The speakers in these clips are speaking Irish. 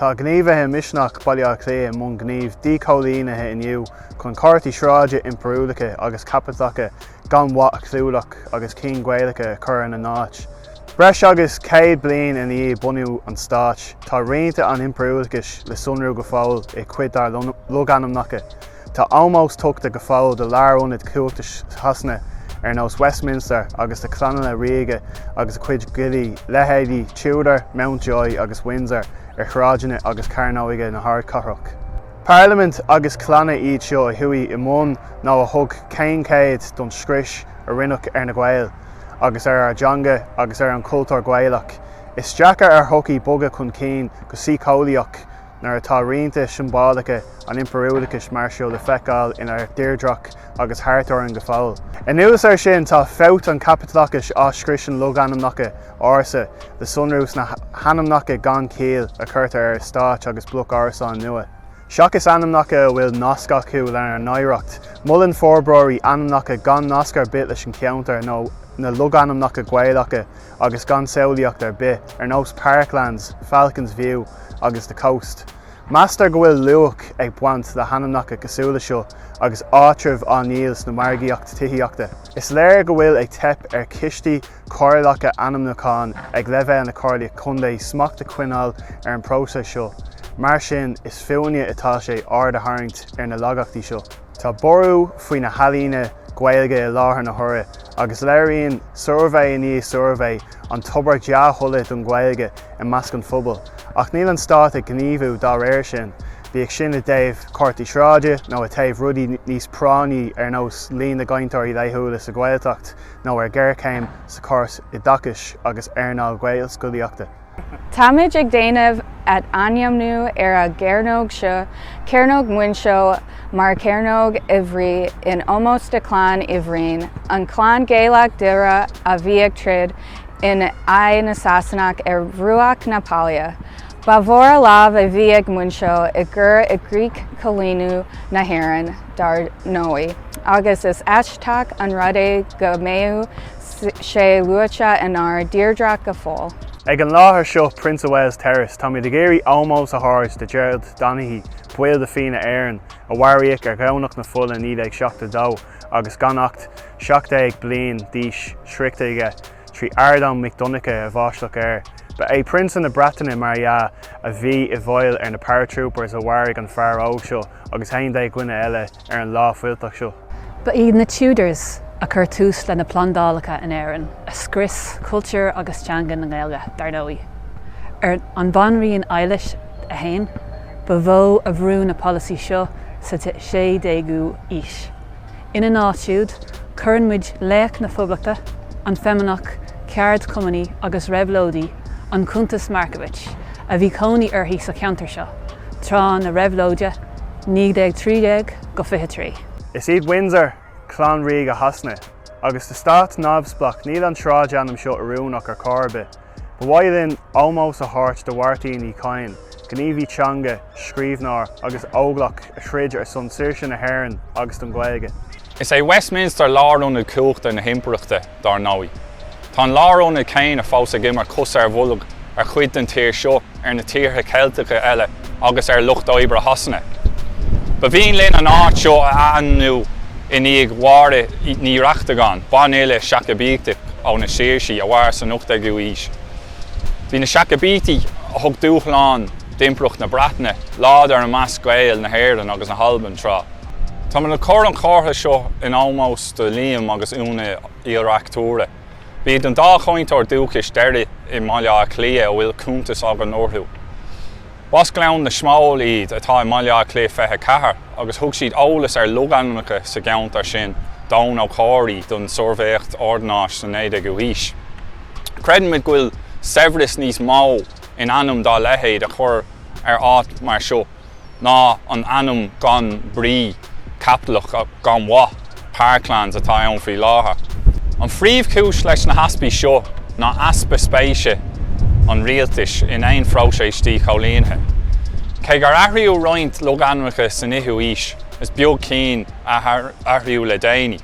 Tá gníomhaithe Misneach Bhaile Átha Cliath i mbun gnímh díchoilínithe inniu chun comharthaí sráide impiriúlacha agus caipitleacha gan mhaith a chlúdach agus cinn Ghaelacha a chur ina n-áit. Breis agus céad bliain i ndiaidh bhunú an Stáit, tá rianta an impiriúlachais le sonrú go fóill i cuid dár logainmneacha. Tá ómós tughta go fóill do lárionaid chumhachta Shasana ar nós Westminster agus do chlanna ríoga agus a cuid giollaí, leithéidí Tudor, Mountjoy agus Windsor ar shráideanna agus cearnóga na hardchathrach. Parlaimint agus clanna iad seo a chuaigh i mbun nó a thug caoinchead don scrios a rinneadh ar na Gaeil agus ar ár dteanga agus ar an chultúr Gaelach. Is deacair ar shochaí bogadh chun cinn go síceolaíoch, nuair atá rianta siombalacha an impiriúlachais mar seo le feiceáil inár dtírdreach agus thart orainn go fóill. Anuas air sin, tá fabht an chaipitleachais a scriosann logainmneacha ársa le sonrú sna hainmneacha gan chiall a chuirtear ar eastáit agus bloic árasán nua. Seachas ainmneacha a bhfuil nasc acu lenár n-oidhreacht, molann forbróirí ainmneacha gan nasc ar bith leis an cheantar nó na logainmneacha Gaelacha, agus gan samhlaíocht ar bith, ar nós Parklands, Falcon's View agus The Coast. Meastar go bhfuil luach ag baint le hainmneacha cosúil le seo agus áitreabh á ndíol sna margaíocht tithíochta. Is léir go bhfuil ag teip ar choistí comhairleacha ainmniúcháin ag leibhéal na Comhairlí Contae smacht a choinneáil ar an bpróiseas seo, mar sin is fúinne atá sé aird a tharraingt ar na laigeachtaí seo. Tá borradh faoi na healaíona Gaeilge i láthair na huaire agus léiríonn suirbhé i ndiaidh suirbhé an tobar dea-thola don Ghaeilge i measc an phobail, ach níl an Stát ag gníomhú dá réir sin, bíodh sin i dtaobh comharthaí sráide nó i taobh rudaí níos práinní ar nós líon na gcainteoirí laethúla sa Ghaeltacht nó ar ghéarchéim sa chóras oideachais agus earnáil Ghaelscolaíochta. Táimid ag déanamh athainmniú ar an gcearnóg seo, Cearnóg Mhuinseo, mar Cearnóg Uí Bhroin in ómós do Chlann Uí Bhroin, an clann Gaelach deireadh a bhí ag troid in aghaidh na Sasanach ar bhruach na Páile. Ba mhór a lámh a bhí ag Muinseo i gcur i gcrích coilíniú na hÉireann, dar ndóigh, agus is aisteach an rud é go mbeadh sé luaite inár dtírdreach go fóill. Ag an láthair seo, Prince of Wales Terrace, táimid ag iarraidh ómós a thabhairt do Gerald Donaghy, baill de Fianna Éireann, a mharaíodh ar Dhomhnach na Fola 1972 agus gan acht 17 bliain d'aois sroichte aige trí Ardán Mic Dhonncha a bhaisteadh air. Ba é Prionsa na Breataine, mar dhea, a bhí i bhfeighil ar na paratroopers a mharaigh an fear óg seo agus 11 dhuine eile. ar an lá fuilteach seo. Ba iad na Tudors a chuir tús le na plandálacha in Éirinn, a scrios cultúr agus teanga na nGaeilge, dar ndóigh. Ar an Bhanríon Eilis 1 ba mhó a bhrú na polasaithe seo sa 16ú aois. Ina n-áit siúd, cuireann muid laoch na Phoblachta, an feimíneach, ceardchumannaí agus réabhlóidí, an Chuntaois Markievicz, a bhí cónaí uirthi sa cheantar seo tráth na réabhlóide, 1913-23. Is iad Windsor clann ríoga Shasana, agus sa stát neamhspleách níl an sráidainm seo oiriúnach ar chor ar bith. Ba mhaith linn ómós a thabhairt do Mháirtín Ó Chadhain, gníomhaí teanga, scríbhneoir agus óglach a throid ar son saoirse na hÉireann agus don Ghaeilge. Is é Westminster lárionad cumhachta na hImpireachta. dar ndóigh. Tá an lárionad céanna fós ag imirt cos ar bolg ar chuid den tír seo, ar na tíortha Ceilteacha eile agus ar lucht oibre Shasana. Ba mhian linn an áit seo a ainmniú i ndiaidh Mháire Ní Reachtagáin, banfhile Seacaibíteach ó na Saoirsí a mhair san 18ú aois. Bhí na Seacaibítigh, a thug dúshlán d'Impireacht na Breataine, láidir i measc Gaeil na hÉireann agus na hAlban tráth. Táimid ag cur an chomhartha seo in ómós do Liam agus Úna Uí Reachtúra. B'iad an dá chainteoir dúchais deiridh i mBaile Átha Cliath a bhfuil cuntas againn orthu. B'as Gleann na Smól iad, atá i mBaile Átha Cliath 24, agus thug siad eolas ar logainmneacha sa gceantar sin d'Eoghan Ó Comhraí don tSuirbhéireacht Ordanáis sa 19ú haois. Creidimid go bhfuil saibhreas níos mó in ainm dá leithéid a chur ar áit mar seo. ná an ainm gan brí, caipitleach, gan mhaith, Parklands, atá ann faoi láthair. An phríomhchúis leis na heaspaí seo ná easpa spéise an rialtais in aon phróiseas díchoilínithe. Cé gur athraíodh roinnt logainmneacha san fhichiú aois, is beag cinn a athraíodh le déanaí.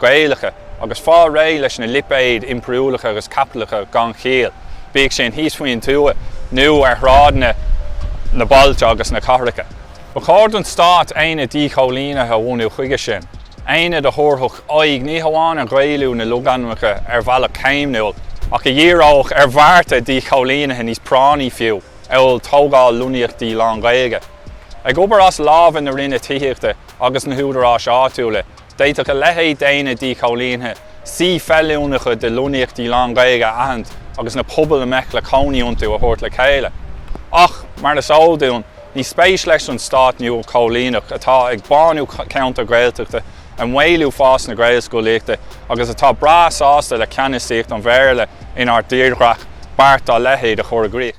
Gaelacha, agus fáil réidh leis na lipéid impiriúlacha agus caipitleacha gan chiall, bíodh sin thíos faoin tuath nó ar shráideanna na bailte agus na cathracha. Ba chóir don Stát aonad díchoilínithe a bhunú chuige sin, aonad a thabharfadh aghaidh ní hamháin ar Ghaelú na logainmneacha ar bhealach céimniúil, ach a dhíreodh ar bhearta díchoilínithe níos práinní fiú, amhail tógáil lonnaíochtaí lánGhaeilge. Ag obair as lámha na Roinne Tithíochta agus na húdaráis áitiúla, D'fhéadfadh a leithéid d'aonad díchoilínithe suí feiliúnacha de lonnaíochtaí lán-Ghaeilge a aithint agus na pobail a mbeadh le cónaí iontu a thabhairt le chéile. Ach, mar is eol dúinn, ní spéis leis an stát nua-choilíneach atá ag bánú ceantair Ghaeltachta ag maolú fás na Gaelscolaíochta agus atá breá sásta le ceannasaíocht an Bhéarla inár dtírdhreach beart dá leithéid a chur i gcrích.